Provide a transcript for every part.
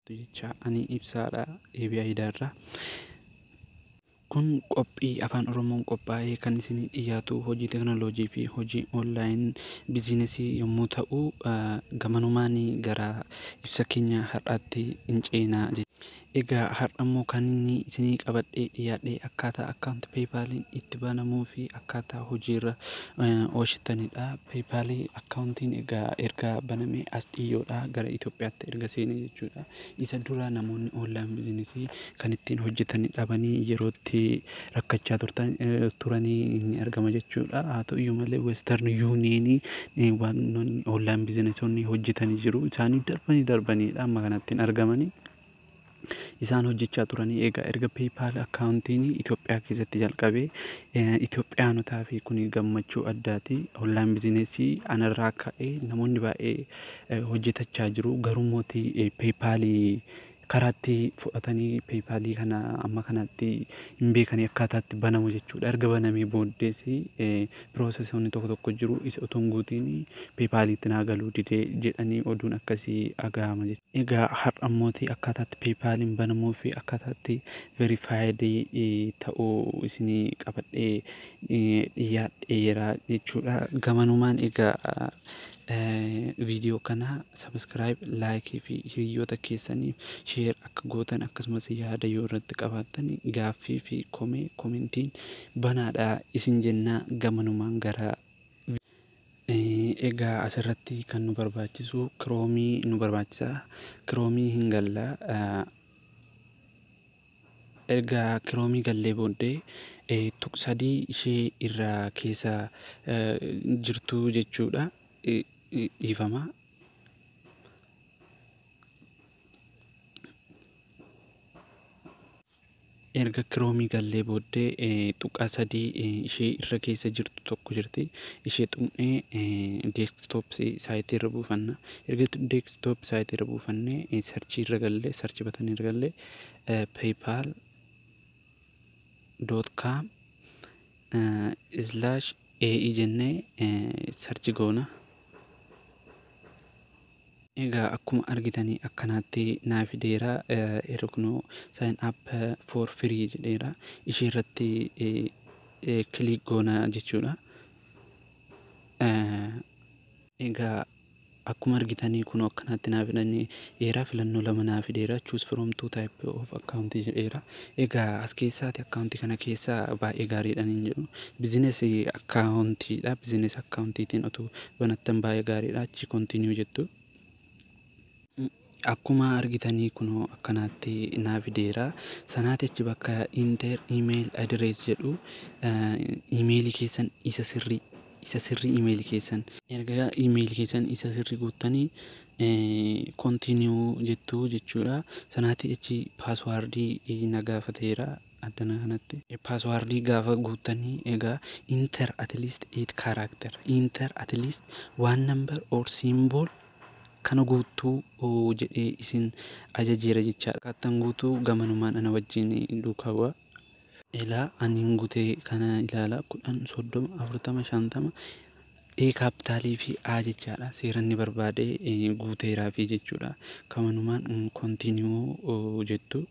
Jechaa ani ibsaadha deebi'aa idaarraa. Kun qophii afaan oromoon qophaa'ee kan isinii dhiyaatu hojii teknoloojii fi hojii online biziinesii yommuu ta'u gamanumaan gara ibsa keenya har'aatti in ceena. Egaa har'a immoo kan inni isinii qabadhee dhiyaadhe akkaataa account paypal itti banamuu fi akkaataa hojiirra oolchitanidha. Paypal Akkaawuntiin egaa erga banamee as dhiyyoodha gara Itoophiyaatti erga seene jechuudha. Isa dura namoonni online business kan ittiin hojjetan dhabanii yerootti rakkachaa turtan turanii ni argama jechuudha. Haa ta'u iyyuu malee Western Union waanonni online business hojjetanii jiru. Isaanii darbanii darbaniidha amma kanatti hin argamanii. isaan hojjechaa turanii egaa erga PayPal akkaawuntiin Itoophiyaa keessatti jalqabee Itoophiyaanotaaf kun gammachuu addaati. Online bizinesii anarraa ka'ee namoonni baay'ee hojjetachaa jiru. Garuu mooti PayPal karaatti fudhatanii PayPal kana amma kanatti hin beekanii akkaataatti banamu jechuudha. Erga banamee booddees process wanni tokko tokko jiru isa otoo hin guutiin paypal itti naa galuu dide jedhanii oduun akkasii dhagahama jechuudha. Egaa har'a immooti akkaataa itti paypal'n banamuu fi akkaataa itti verified ta'u isinii qabadhee dhiyyaadheera jechuudha. Gamanumaan egaa Video kana subscribe, like fi hiriyyoota keessaniif share akka gootan akkasumas yaada yoo irratti qabaattan gaaffii fi komee commentiin banaadha isin jenna gamanumaan gara Egaa asirratti kan nu barbaachisu kiroomii nu barbaachisa kiroomii hin galla Erga Kiroomii gallee booddee tuq 3 ishee irra keessa jirtuu jechuudha dhiifama. Erga Kiroomii gallee booddee tuqaa 3 ishee irra keessa jirtu tokko jirti. Ishee tuqnee deeskitoop saayitii irra buufanna. Erga deeskitoop saayitii irra buufannee sarchii irra gallee sarchii batanii irra gallee paypal dot com slash ae jennee sarchi goona egaa akkuma argitanii akkanaatti naa fideera irra kunoo sign up for free jedheera ishee irratti kiliik goona jechuudha egaa Akkuma argitani kunoo akkanaatti naa fidani eera filannoo lama naa fideera choose from two type of account jedheera egaa as keessaati account kana keessa baay'ee gaariidhan hin jedhu business account dha business account tiin otuu banattan baay'ee gaariidha achii continue jettu. Akkumaa argitanii kunoo akkanaatti naa fideera. Sanaati achi bakka enter email address jedhu email keessan isa sirrii isa sirrii email keessan. Erga email keessan isa sirrii guuttanii continue jettu jechuudha. Sanaati achi password na gaafateera addana kanatti. Password gaafa guuttanii egaa enter at least 8 character enter at least one number or symbol Kana guuttuu jedhee isin ajajeera jechaa dha. Kaattan guutuu gamanumaan ana wajjin duukaa bu'aa. Ilaa, ani hin gute kana ilaalaa, 10, 30, 40, 50, A kaappitaalii fi A jechaa dha. Seera inni barbaade guuteeraafii jechuu dha. Kamanumaan continue jettu,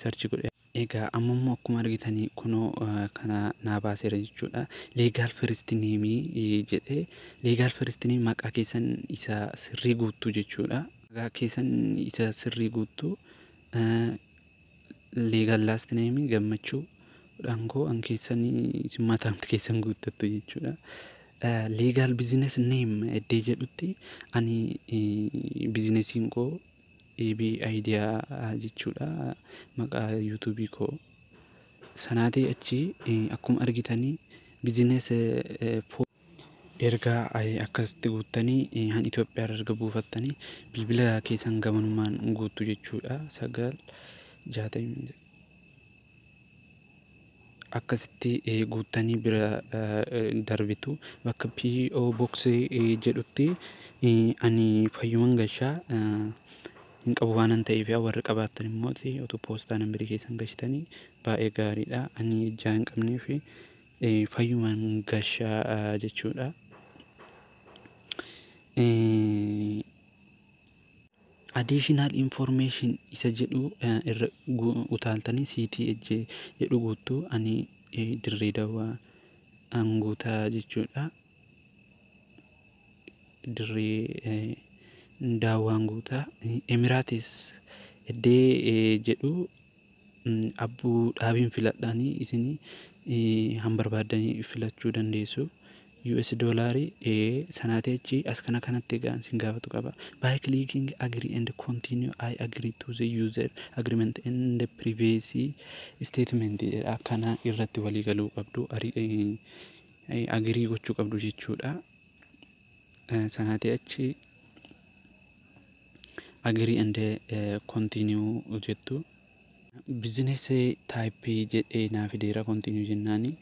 search godheera. Egaa amma immoo akkuma argitan kunoo kana naa baaseera jechuudha. Legal first name jedhe. Legal first name maqaa keessan isa sirrii guuttu jechuudha. Maqaa keessan isa sirrii guuttu. Legal last name gammachuu dhankoo an keessan isin mataan keessan guuttattu jechuudha. Legal business name iddee jedhutti ani bizinesiin koo AB idea jechuudha maqaa youtube koo sanaatii achi akkuma argitanii business for erga akkasitti guuttanii han Itoophiyaa irra erga buufattanii bilbila keessan gamanumaan guuttu jechuudha sagal jaatamii akkasitti guuttanii bira darbitu bakka PO Box jedhutti ani fayyuman gashaa hin qabu waanan ta'eef yaa warri qabaattan immoo utuu poostaa nambirii keessan gashitanii baay'ee gaariidha ani ijaa hin qabnee fi fayyuman gashaa jechuudha. Additional information isa jedhu irra utaaltanii CTH jedhu guuttu ani dirree dawaa an guutaa jechuudha dirree daawwaan guutaa emiraatis eddee jedhu Abbu dhaabiin filadhaani isini han barbaaddani filachuu dandeessu us dollari ee sanaati achi as kana kanatti egaan sin gaafatu qaba by clicking agree and continue I agree to the user agreement and privacy statement jedha kana irratti walii galuu qabdu agree gochuu qabdu jechuudha Sanaatii achi agree and continue jettu. Business type jedhee naa fideera continue jennaani.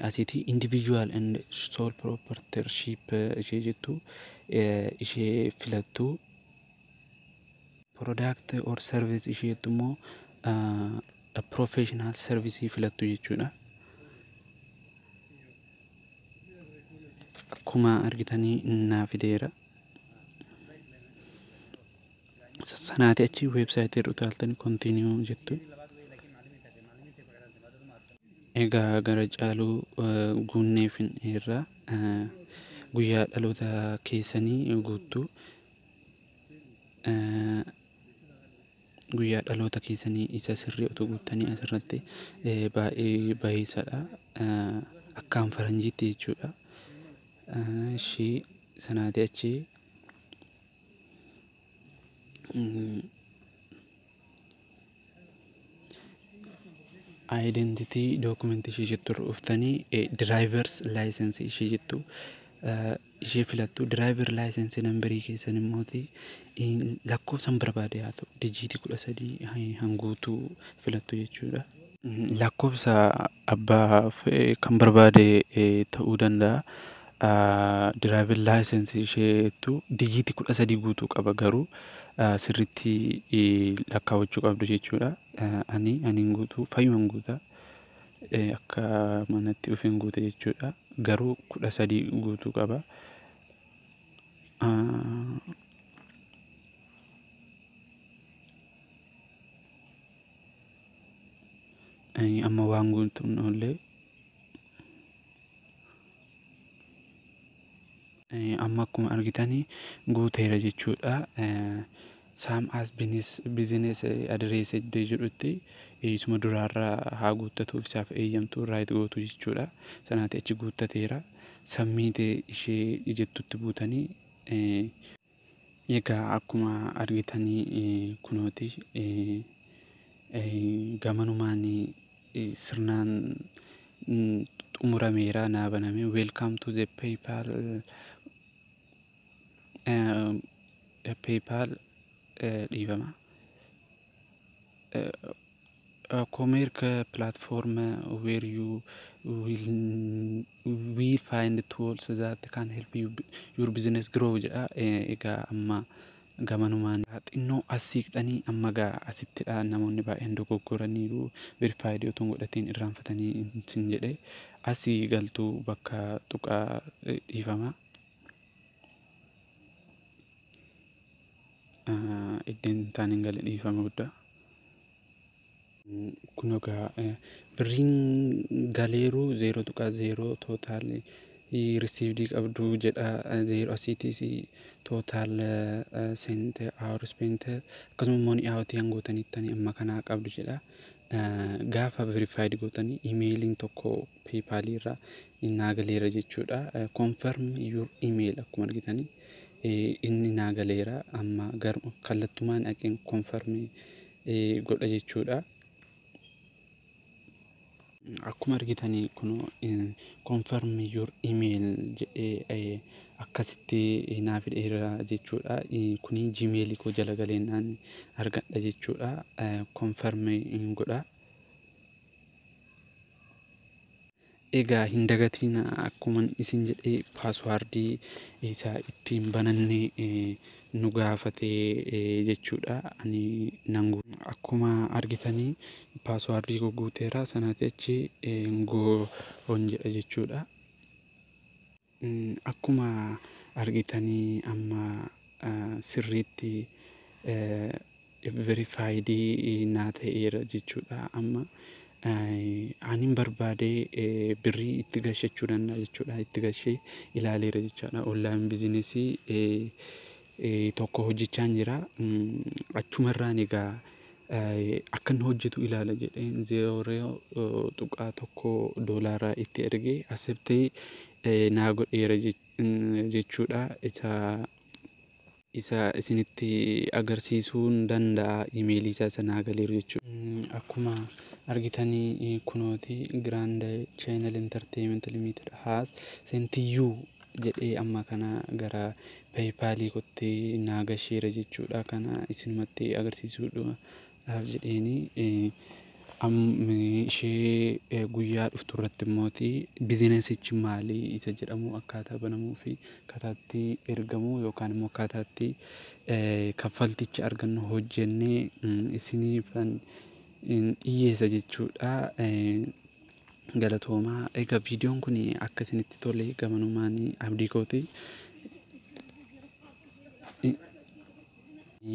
Asiiti individual and sole proprietorship ishee jettu ishee filattu. Product or service ishee jettu immoo professional service filattu jechuudha. Akkuma argitanii naa fideera. Sanaati achi weebsaayitii irra utaaltanii kontiiniyuu jettu. Egaa gara caaluu guunnee fin'eerra guyyaa dhaloota keessanii guuttuu Guyyaa dhaloota keessanii isa sirrii otoo guuttanii asirratti baay'ee bayeessadha. Akkaan faranjiitti jechuudha. Ishii sanaati achi identity document ishii jettu irra dhuftanii drivers license ishii jettu ishee filattu driver license number keessan immoo lakkoofsan barbaade haa ta'u dijiitii 13 han guutuu filattu jechuudha. Lakkoofsa abbaa kan barbaade ta'uu danda'a. Driver license isheettu dijiitii 13 guutuu qaba garuu sirriitti lakkaawachuu qabdu jechuudha. Ani ani hin guutu fayyuma hin guuta. akka manatti dhufeen guute jechuudha. Garuu kudha sadii guutuu qaba. Amma waan guutuun illee amma akkuma argitanii guuteera jechuudha. Same as business address iddoo jedhutti isuma duraarra haa guuttatuuf isaaf eeyyamtu, write gootu jechuudha. Sanaatii achi guuttateera. Submit ishee jettutti buutanii egaa akkuma argitanii kunooti gamanumaan sirnaan xumurameera naa baname. Welcome to the PayPal PayPal dhiifama. Comerc platform where you will we find tools that can help you your business grow jedha. Egaa amma gamanumaan xinnoo as siiqxanii amma gaa asittidha namoonni baay'een dogoggoraniiru verified otoo hin godhatiin irraanfatanii sin jedhe asii galtuu bakka tuqaa dhiifama. Iddeen taan hin gale dhiifama guddaa. Kun egaa birriin galeeruu zeero tuqaa zeero tootaal risiivdii qabduu jedhaa zeero asiitiis tootaal seente awar ispeente akkasuma money out kan gootaniittani amma kanaa qabdu jedhaa gaafa verifaayid gootanii imeeliin tokkoo. PayPal irra innaa galeera jechuudha. Confirm your email akkuma argitanii inni naa galeera amma garuu kallattumaan dhaqeen confirm godha jechuudha. Akkuma argitanii kun confirm your email jedhee akkasitti naa fidheera jechuudha. Kuni Gmail koo jala galeennaan argadha jechuudha. Confirm godha. Egaa hin dagatiina akkuman isin jedhe paaswaardii isa ittiin bananne nu gaafate jechuudha. Ani nan akkuma argitanii paaswaardii koo guuteera sanaatii achi go on jedha jechuudha. Akkuma argitani amma sirriitti verified naa ta'eera jechuudha amma anin barbaade birrii itti gashachuu danda'a jechuudha itti gashee ilaaleera jechaadha online business tokko hojjechaan jira. Achumarraan egaa akkanni hojjetu ilaala jedheen 0.1 doolaaraa itti erge aseptee naa godheera jechuudha. Isa isa isinitti agarsiisuun danda'a imeelii isaa isa naa galeeru jechuudha. Akkuma argitanii kunooti Grand Channel Entertainment Limited has sent you jedhee amma kana gara paypal kotti naa gasheera jechuudha kana isinumatti agarsiisuudhaaf jedheeni ishee guyyaa dhuftu irratti immooti bizinasichi maali isa jedhamu akkaataa banamuu fi akkataatti ergamu yookaan immoo akkaataatti kaffalticha argannu hojjennee isiniifan dhiyyeessa jechuudha. Galatoomaa egaa viidiyoon kun akka isinitti tole gamanumaan abdii kooti.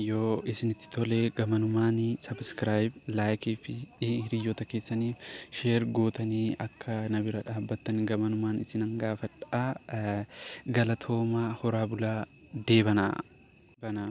Yoo isinitti tole gamanumaan sabiskiraayib, laayikii fi hiriyoota keessaniif sheer gootanii akka na bira dhaabbattan gamanumaan isinan gaafadha. Galatoomaa horaa bulaa deebanaa. Banaa.